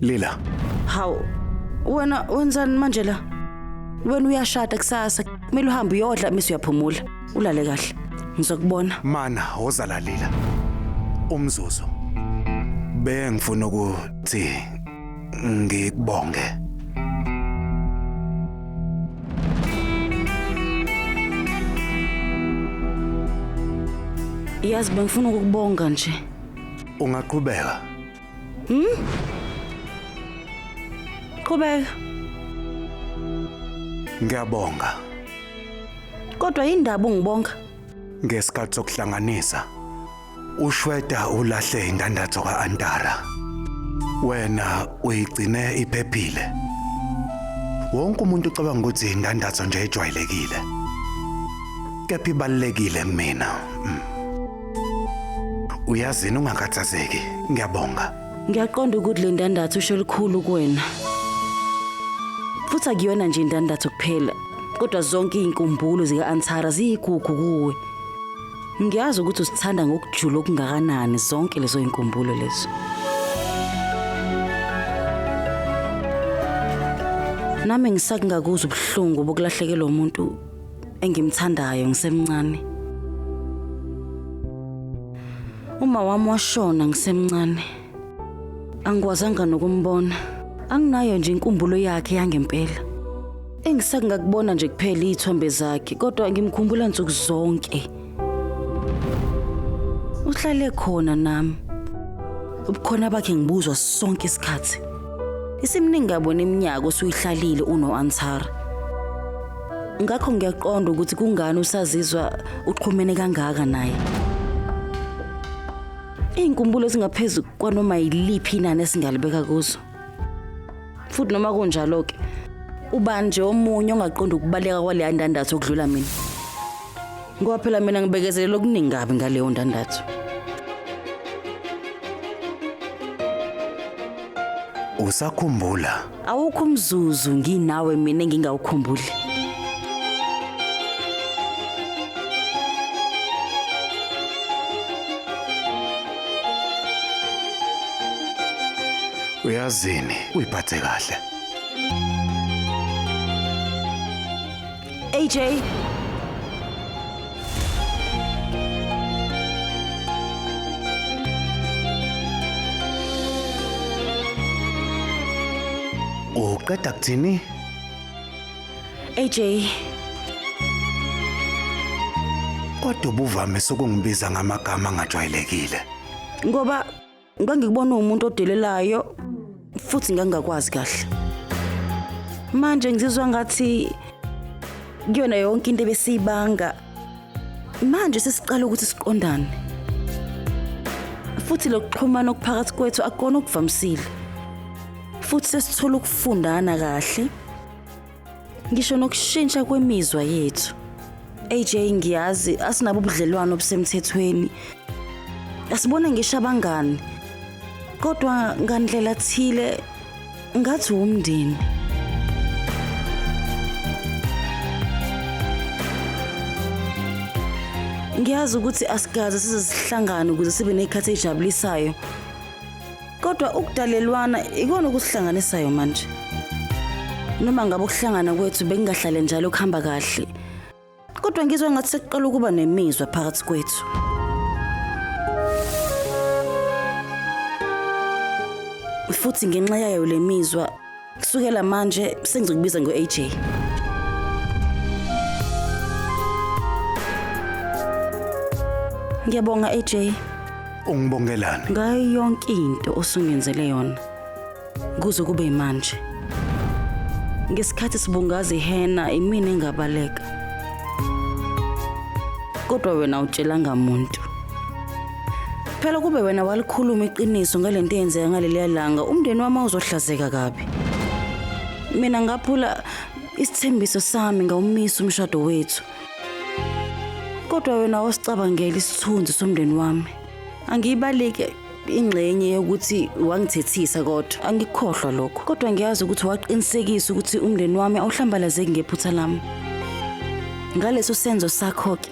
Lila. Hawu. Wena wenzani manje la? Wena uyashada kusasa. Kumele uhambe uyodla bese uyaphumula. Ulale kahle. Ngizokubona. Mana woza la Lila. Umzuzu. Bengifuna ukuthi ngikubonge. Yazi bengifuna ukukubonga nje. Ungaqhubeka. Qhubeka. Ngiyabonga Kodwa indaba ungibonga. ngesikhathi sokuhlanganisa. Ushweda ulahle indandatho kaAntara. Wena uyigcine iphephile. Wonke umuntu ucabanga ukuthi indandatho nje ejwayelekile. Kepha ibalekile kumina. Mm. Uyazini ungakhathazeki. Ngiyabonga. Ngiyaqonda ukuthi le ndandatho usho lukhulu kuwena. Futhi akuyona nje indandatho kuphela, kodwa zonke izinkumbulo zika-Antara ziyigugu kuwe. Ngiyazi ukuthi usithanda ngokujula okungakanani zonke lezo zinkumbulo lezo. Nami ngisakungakuzwa ubuhlungu bokulahlekelwa umuntu engimthandayo ngisemncane. Uma wami washona ngisemncane. Angikwazanga nokumbona. Anginayo nje inkumbulo yakhe yangempela. Engisakungakubona nje kuphela izithombe zakhe kodwa ngimkhumbula nsuku zonke. uhlale khona nami ubukhona bakhe ngibuzwa sonke isikhathi isimningi kabona iminyaka osuyihlalile uno-antara ngakho ngiyaqonda ukuthi kungani usazizwa uxhumene kangaka naye iy'nkumbulo ezingaphezu kwanoma yiliphi inani esingalibeka kuzo futhi noma kunjalo-ke ubani nje omunye ongaqondi ukubaleka kwaleya ndandatho okudlula mina ngoba phela mina ngibekezelela okuningi kabi ngaleyo ndandatho usakhumbula awukho umzuzu nginawe mina engingawukhumbuli Uyazini, uyiphathe kahle. AJ Uqeda kuthini? AJ. Kodwa ubuvame sokungibiza ngamagama angajwayelekile. Ngoba ngangikubona umuntu odelelayo futhi ngangakwazi kahle. Manje ngizizwa ngathi kuyona yonke into ebesiyibanga manje sesiqala ukuthi siqondane. Futhi lokuxhumana okuphakathi kwethu akukona okuvamisile. Futhi sesithola ukufundana kahle. ngisho nokushintsha kwemizwa yethu AJ ngiyazi asinabo ubudlelwano obusemthethweni asibone ngisho abangani kodwa ngandlela thile ngathi wumndeni ngiyazi ukuthi asikaze size sihlangane ukuze sibe nekhathi ejabulisayo kodwa ukudalelwana ikona okusihlanganisayo manje noma ngabe ukuhlangana kwethu bekungahlale njalo kuhamba kahle kodwa ngizwa ngathi sekuqala ukuba nemizwa phakathi kwethu futhi ngenxa yayo le mizwa Kusukela manje sengizokubiza ngo-AJ. Ngiyabonga AJ Ungibongelani? ngayo yonke into osungenzele yona kuze kube manje. Ngesikhathi sibungaza ihena imina engabaleka. Kodwa wena utshelanga muntu. Phela kube wena walikhuluma iqiniso ngalento eyenzeka ngaleliya langa, umndeni wami awuzohlazeka kabi. Mina ngaphula isithembiso sami ngawumisa umshado wethu. Kodwa wena wasicabangela isithunzi somndeni wami. Angiyibalike ingxenye yokuthi wangithethisa kodwa angikukhohlwa lokho. Kodwa ngiyazi ukuthi waqinisekisa ukuthi umndeni wami awuhlambalazeki ngephutha lami. Ngaleso senzo sakho-ke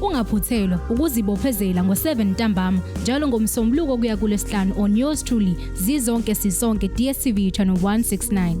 Ungaphuthelwa ukuzibophezela ngo-7 ntambama njalo ngomsombuluko kuya kulesihlanu on yours truly zizonke sisonke DSTV channel 169.